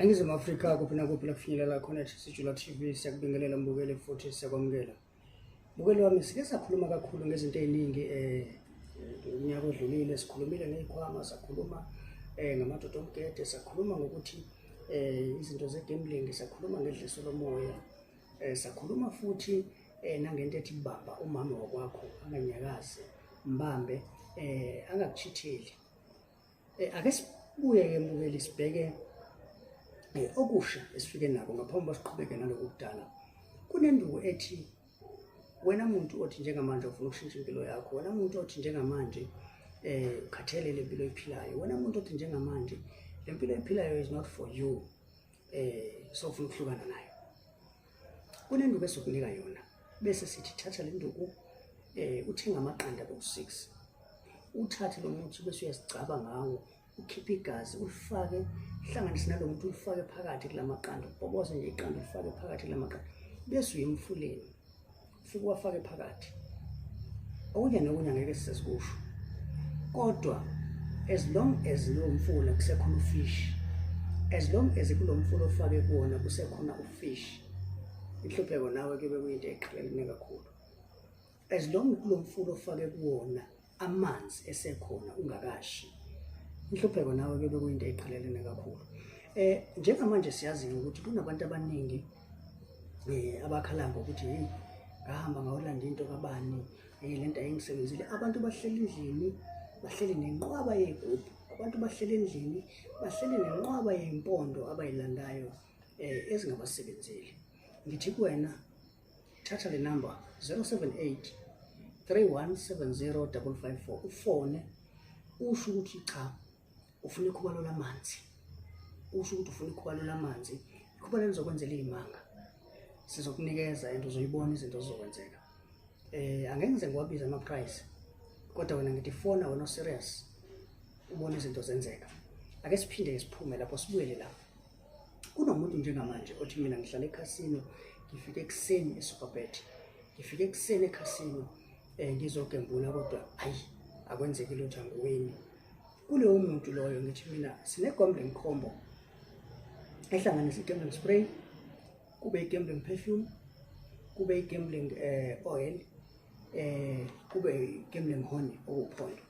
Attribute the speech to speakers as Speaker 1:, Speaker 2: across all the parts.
Speaker 1: eningizimu afrika kuphi nakuphi la kufinyelela khona sijula tv siyakubingelela mbukeli futhi siyakwamukela mbukeli wami sike sakhuluma kakhulu ngezinto ey'ningi um eh, unyaka odlulile sikhulumile ngey'khwama sakhuluma um ngamadoda omgede sakhuluma ngokuthi um izinto zegambling sakhuluma ngedliso lomoya um sakhuluma futhi eh nangento ethi baba umama wakwakho anganyakazi mbambe eh angakuchitheli eh ake sibuye ke mbukeli sibheke eh, okusha esifike nako ngaphambi basiqhubeke naloku kudala kunenduku ethi wena muntu othi njengamanje ufuna ukushintsha impilo yakho wena muntu othi njengamanje eh ukhathelele impilo oyiphilayo wena muntu othi njengamanje lempilo oyiphilayo is not for you eh sofuna ukuhlukana nayo kunenduku esokunika yona bese sithi thatha le nduku eh uthenga amaqanda ku-6 uthathe lo muthi bese uyazigcaba ngawo ukhiphe igazi ulifake hlanganise nalo muntu ulifake phakathi kula maqanda uboboze nje iqanda ulifake phakathi kula maqanda bese uyemfuleni ufike uwafake phakathi okunye nokunye angeke sisikusho kodwa as long as lo mfula kusekhona ufish as long as kulo mfula ofake kuwona kusekhona ufish inhlupheko nawe kube kuyinto eqhelelene kakhulu as long kulo mfula ofake kuwona amanzi esekhona ungakashi inhlupheko nawe ke bekuyinto eqhelelene kakhulu eh njengamanje siyazi ukuthi kunabantu abaningi eh abakhala ngokuthi hey ngahamba ngawulanda into kabani hey lento ayingisebenzile abantu bahleli endlini bahleli nenqwaba yegubhu abantu bahleli endlini bahleli nenqwaba yempondo abayilandayo eh ezingabasebenzeli ngithi kuwena thatha le number 078 3170554 ufone usho ukuthi cha ufuna ikhubalo lamanzi usho ukuthi ufuna ikhubalo lamanzi ikhubalo lizokwenzela iy'manga sizokunikeza and uzoyibona izinto zizokwenzeka eh angengize ngiwabiza ama price kodwa wena ngithi fona wena serious ubona izinto zenzeka ake siphinde siphume lapho sibuyele lapho kunomuntu njengamanje othi mina ngihlala ekhasino ngifike ekuseni eSuperbet ngifike ekuseni ekhasino um ngizogembula kodwa ayi akwenzeki lutho angiwini kulowo muntu loyo ngithi mina sine-gombling combo ehlanganisa i-gambling spray kube i-gambling perfume kube i-gambling um eh, oil um kube i-gambling honey okuphondo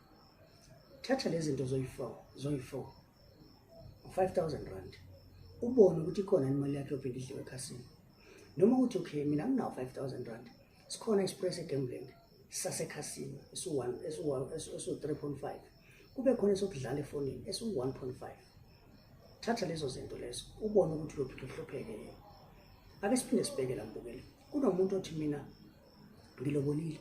Speaker 1: thatha lezi zinto zoyi-four zoyi-four 5000 rand ubone ukuthi ikhona imali yakhe yophinda idliwe ekhasini noma ukuthi okay mina nginawo 5000 rand sikhona express egambling sasekhasini esu-3.5 kube khona esokudlala efonini esu-1.5 thatha lezo zinto lezo ubone ukuthi uyophinda uhlupheke yena ake siphinde sibheke la mbukeli kunomuntu othi mina ngilobolile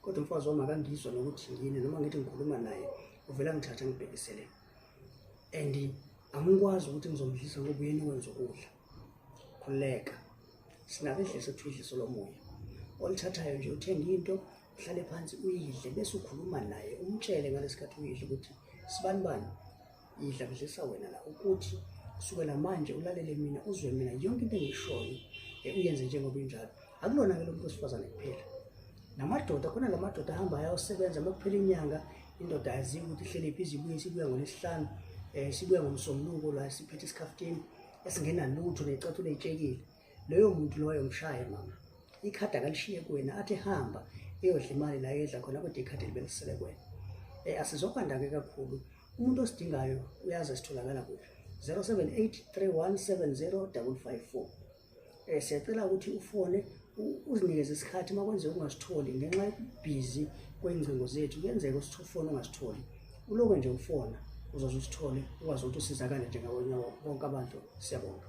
Speaker 1: kodwa umfazi wami akangizwa nokuthi yini noma ngithi ngikhuluma naye uvela ngithatha ngibhekisele and angikwazi ukuthi ngizomdlisa ngoba uyena wenza ukudla khululeka sinake idlisa kuthiwa idliso lomoya olithathayo nje uthenga into uhlale phansi uyidle bese ukhuluma naye umtshele ngalesi khathi uyidle ukuthi sibani bani ngidlamlisa wena la ukuthi kusukela manje ulalele mina uzwe mina yonke into engishoyo eh, uyenze njengoba injalo akulona-ke lo muntu wesifazane kuphela namadoda khona la madoda ahamba ayayosebenza uma kuphela inyanga indoda aziwe ukuthi ihlele phi izibuye sibuya ngolesihlanu um sibuya ngomsombuluko la siphethe isikhaftini esingenalutho necathulo eyitshekile loyo muntu loyo mshaye mama ikhadi akalishiye kuwena athi hamba eyodla imali la yedla khona kodwa ikhadi libelisele kuwena um asizokwanda-ke kakhulu umuntu osidingayo uyazi esitholakala kuphi 0783170554 um eh, siyacela ukuthi ufone uzinikeze isikhathi uma kwenzeka ungasitholi ngenxa yokubhizi kwey'ngcingo zethu kuyenzeka usifone ungasitholi uloke nje ufona uzoze usithole ukwazi ukuthi usizakale njengabonye bonke abantu siyabonga